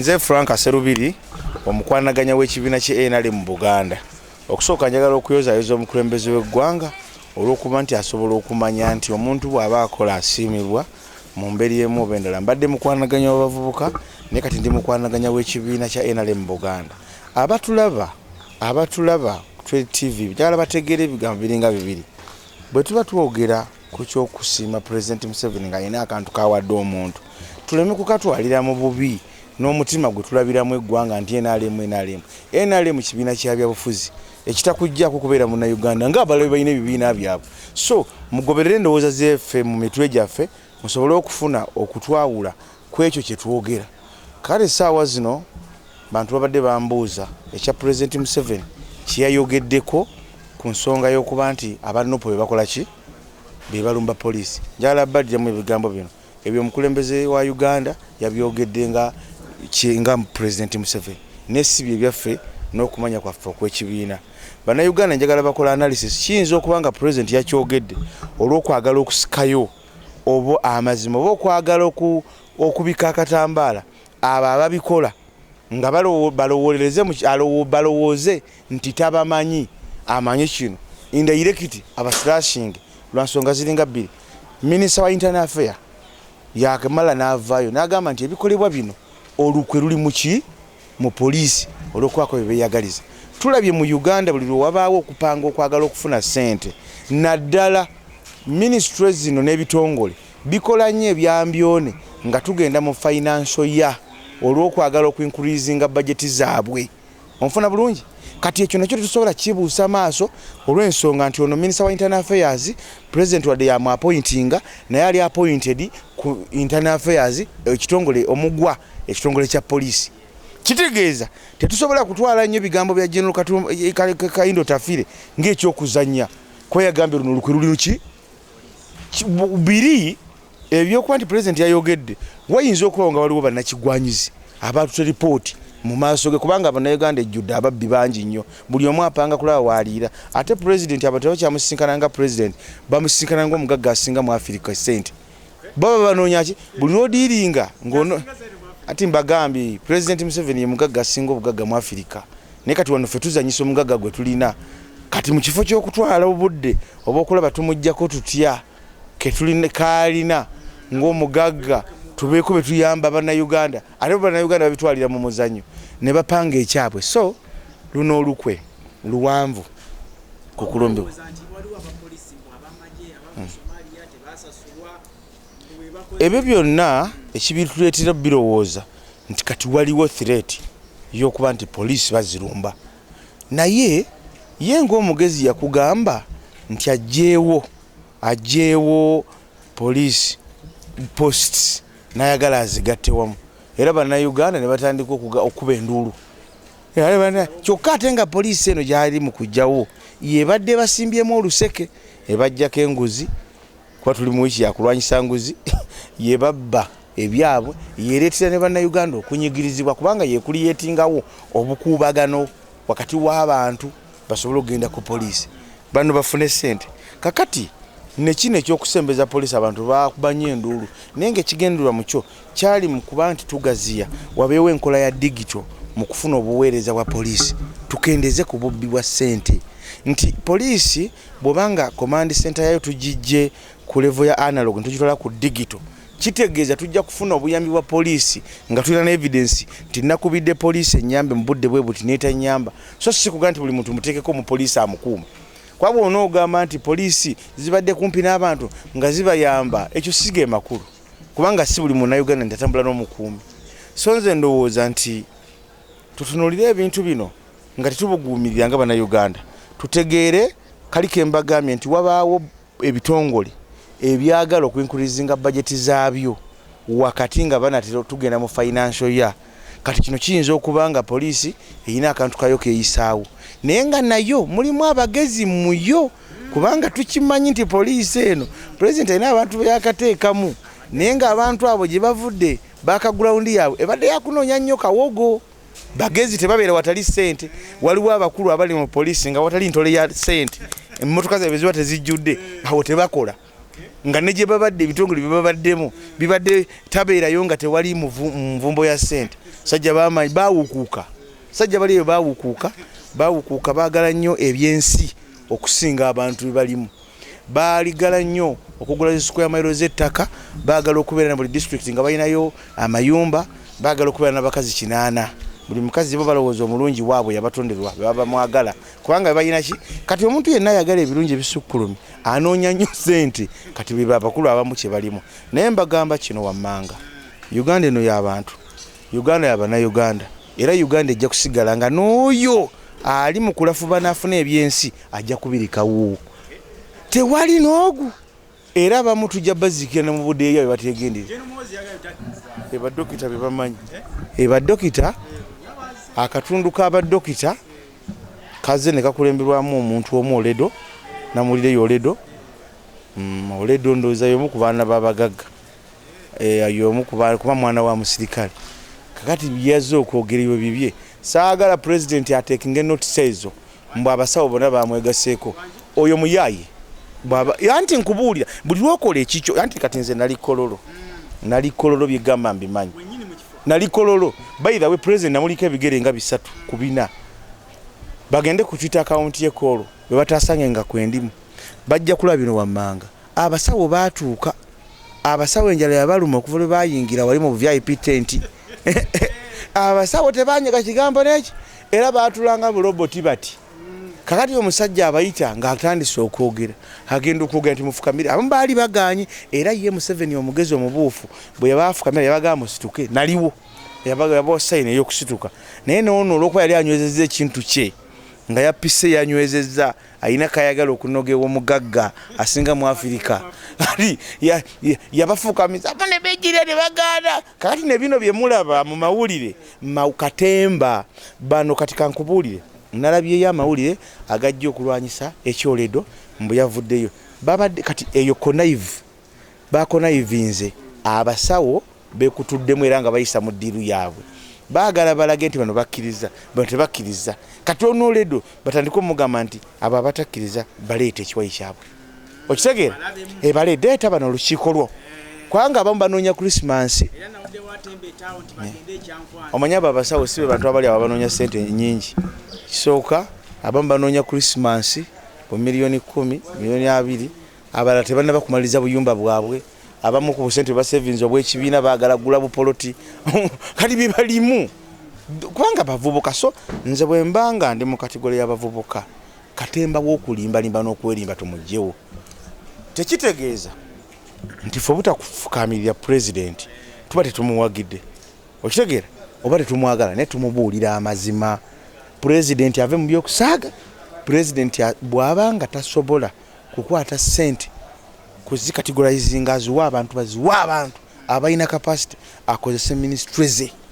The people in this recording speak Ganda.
Nze Frank Serubiri omukwanaganya w'ekibiina kye NRM mu Buganda. Okusooka njagala okuyozayoza omukulembeze w'eggwanga olw'okuba nti asobola okumanya nti omuntu bw'aba akola asiimibwa mu mbeera emu oba endala. Mbadde mukwanaganya w'abavubuka naye kati ndi mukwanaganya w'ekibiina kya NRM mu Buganda. Abatulaba abatulaba Trade TV njagala bategeere ebigambo biringa bibiri. Bwe tuba twogera ku kyokusiima pulezidenti museveni nga alina akantu kawadde omuntu tuleme kukatwalira mu bubi n'omutima gwe tulabiramu eggwanga nti nrm nrm nrm kibiina kya byabufuzi ekitakujjako kubeera munauganda nga abalabe balina ebibiina byabwe so mugoberere endowooza zefe mu mitwe gyaffe musobole okufuna okutwawula ku ekyo kye twogera. Kale essaawa zino bantu babadde bambuuza ekya Pulezidenti Museveni kye yayogeddeko ku nsonga y'okuba nti aba Nup be bakola ki be balumba poliisi. Njagala baddiramu ebigambo bino, ebyo omukulembeze wa Uganda yabyogedde nga nga Pulezidenti Museveni naye si bye byaffe n'okumanya kwaffe okw'ekibiina. Bannayuganda njagala bakola analysis, kiyinza okuba nga Pulezidenti yakyogedde olw'okwagala okusikayo. oba amazima oba okwagala okubikka akatambaala abo ababikola nga balowooze nti tabamanyi amanyi kino indairekiti abasirashinge lwansonga ziringa bbiri minisita wa intern affair yakemala n'avaayo n'agamba nti ebikolebwa bino olukwe luli muki mu poliisi olw'okubaako bye beeyagaliza. Tulabye mu Uganda buli lwe wabaawo okupanga okwagala okufuna ssente naddala minisitule zino n'ebitongole bikola nnyo ebyambyone nga tugenda mu financial year olw'okwagala okuinkurizinga bajeti zaabwe. Onfuna bulungi? Kati ekyo nakyo tetusobola kibuusa maaso olw'ensonga nti ono minisita wa internal affairs pulezidenti wadde yamwapointinga naye ali appointed ku internal affairs ekitongole omugwa ekitongole kya poliisi kitegeeza tetusobola kutwala nnyo ebigambo bya general kayindo tafire ngaekyokuzanya kuba yagambye luno olukwe luli luki biri ebyokuba nti pulezidenti yayogedde wayinza okubawo nga waliwo bannakigwanyizi abaatute lipooti mu maaso ge kubanga bannayuganda ejjudde ababbi bangi nnyo buli omu apanga kulaba waaliira ate pulezidenti abatebakyamusisinkana nga pulezidenti bamusisinkana ngaomugagga asinga mu afirika esente baba banoonya ki buli lwodiiringa ngono ati mbagambye president museveni ye mugagga asinga obugagga mu afirika naye kati wano ffe tuzanyisa omugagga gwe tulina kati mu kifo ky'okutwala obudde oba okulaba tumugjako tutya kaalina ng'omugagga tubeeko betuyamba bannayuganda ate bannayuganda babitwalira mu muzanyo ne bapanga ekyabwe so luno olukwe luwanvu ku kulumbiwa ebyo byonna ekibituleetera birowooza nti kati waliwo threat y'okuba nti poliisi bazirumba naye ye ng'omugezi yakugamba nti ajjeewo ajjeewo poliisi posts n'ayagala azigatte wamu era bannayuganda ne batandika okukuba enduulu kyokka ate nga poliisi eno gyali mu kujjawo yebadde basimbyemu oluseke ebajjako enguzi kuba tuli mu wiiki yakulwanyisa nguzi yebabba ebyabwe yereetera ne bannayuganda okunyigirizibwa kubanga yekuliyetingawo obukuubagano wakati w'abantu basobole okugenda ku poliisi bano bafune ssente kakati nekino ekyokusembeza poliisi abantu bakubanyo enduulu naye nga ekigendererwa mukyo kyali mu kuba nti tugaziya wabeewo enkola ya digito mu kufuna obuweereza bwa poliisi tukendeze ku bubbi bwa ssente nti poliisi Bw'oba nga Command Center yayo tugiggye ku level ya analog ne tugitwala ku digital, kitegeeza tujja kufuna obuyambi bwa poliisi nga tulina ne evidence nti nakubidde poliisi ennyambe mu budde bwe buti n'etannyamba, so si kugamba nti buli muntu muteekeko omupoliisi amukuuma. Kuba bw'onoogamba nti poliisi zibadde kumpi n'abantu nga zibayamba, ekyo si ge makulu kubanga si buli Munnayuganda nti atambula n'omukuumi. So nze ndowooza nti tutunuulire ebintu bino. nga tetubuguumirira nga bannayuganda tutegeere kali ke mbagambye nti wabaawo ebitongole ebyagala okuinkurizinga bajeti zaabyo wakati nga banatera tugenda mu financial ya kati kino kiyinza okuba nga poliisi erina akantu kayo keyisaawo naye nga nayo mulimu abagezi muyo kubanga tukimanyi nti poliisi eno pulezidenti alina abantu beyakateekamu naye ng'abantu abo gye bavudde bakagulawundi yaabwe ebadde yakunoonya nnyo kawogo bagezi tebabeera watali sente waliwo abakulu abali mu poliisi nga watali ntole ya sente emmotoka zabe ziba tezijjudde awo tebakola nga ne gye babadde ebitongole bye babaddemu bibadde tabeerayo nga tewali nvumbo ya sente sajja bamaanyi baawukuuka sajja bali eyo baawukuuka baawukuuka baagala nnyo ebyensi okusinga abantu bebalimu baaligala nnyo okugula zi square mailo z'ettaka baagala okubeera na buli disitulikiti nga balinayo amayumba baagala okubeera n'abakazi kinaana buli mukazi bo balowooza omulungi waabwe yabatonderwa bebaba mwagala kubanga bebalina ki kati omuntu yenna ayagala ebirungi ebisukkulumi anoonya nnyo sente kati bwe babakulu abamu kye balimu naye mbagamba kino wammanga uganda eno y'abantu Uganda ya Bannayuganda era Uganda ejja kusigala nga n'oyo ali mu kulafuba n'afuna ebyensi ajja kubirikawo tewali n'ogu era abamu tujja baziikira ne mu budeeya bye bateegendera ebadokita bye bamanyi ebadokita akatundu k'abadokita kazze ne kakulemberwamu omuntu omu oledo namulireyo oledo mm, oledo ndowooza y'omu ku baana b'abagagga eh, yomu kuba mwana wa musirikale kakati byeyazze okwogereyo bibye saagala pulezidenti atekinge notisa ezo mbu abasawo bona bamwegaseeko oyo muyaaye bwaba anti nkubuulira buli lwokola ekikyo anti kati nze nali kololo nali kololo byegamba mbimanyi nali kololo bayirawe pulezidenti namuliko ebigere nga bisatu ku bina bagende ku twitter akawunti ye koolo bwe batasange nga kwendimu bajja kulaba bino wammanga Abasawo baatuuka. Abasawo enjala yabaluma okuva lwe baayingira wali mu VIP tenti. Abasawo tebaanyega kigambo n'eki era baatulanga buloboti bati. Kakati omusajja abayita ng'atandise okwogera agenda okwogera nti mufukamire. Abamu baali bagaanye era ye Museveni omugezi omubuufu bwe yabaafukamira yabagamba musituke naliwo yabawa sayini ey'okusituka naye n'ono olw'okuba yali anywezezza ekintu kye nga yapise yanywezezza alina kayagala okunoga ewomugagga asinga mu afirika ali yabafuukamiza abo ne bejjira ne bagaana kakati ne bino bye mulaba mu mawulire katemba bano kati kankubuulire nalabyeyo amawulire agajja okulwanyisa ekyoledo mbu yavuddeyo babadde kati eyo conaive Baakonayivinze abasawo beekutuddemu era nga bayisa mu ddiiru yaabwe baagala balage nti bano bakkiriza bano tebakkiriza kati onoledo batandike omugamba nti abo abatakkiriza baleeta ekiwayi kyabwe okitegeera ebale deeta bano olukiiko lwo kubanga abamu banoonya krisimansi omanya abo abasawo si be bantu abali abo banoonya ssente nyingi kisooka abamu banoonya krisimansi mu miliyoni kumi miliyoni abiri Abalala tebannaba kumaliriza buyumba bwabwe, abamu ku busente bwe basevinze obw'ekibiina baagala kugula bupoloti kati bye balimu kubanga bavubuka. So nze bwe mba nga ndi mu kategole y'abavubuka, katemba w'okulimbalimba n'okwerimba tumuggyewo. Tekitegeeza nti ffe obutakufukaamirira pulezidenti tuba tetumuwagidde, okitegeera, oba tetumwagala naye tumubuulira amazima. Pulezidenti ave mu by'okusaaga, pulezidenti bw'aba nga tasobola kukwata sente kuzikatigolayizinga aziwe abantu baziwe abantu abalina capacity akozese ministry ze.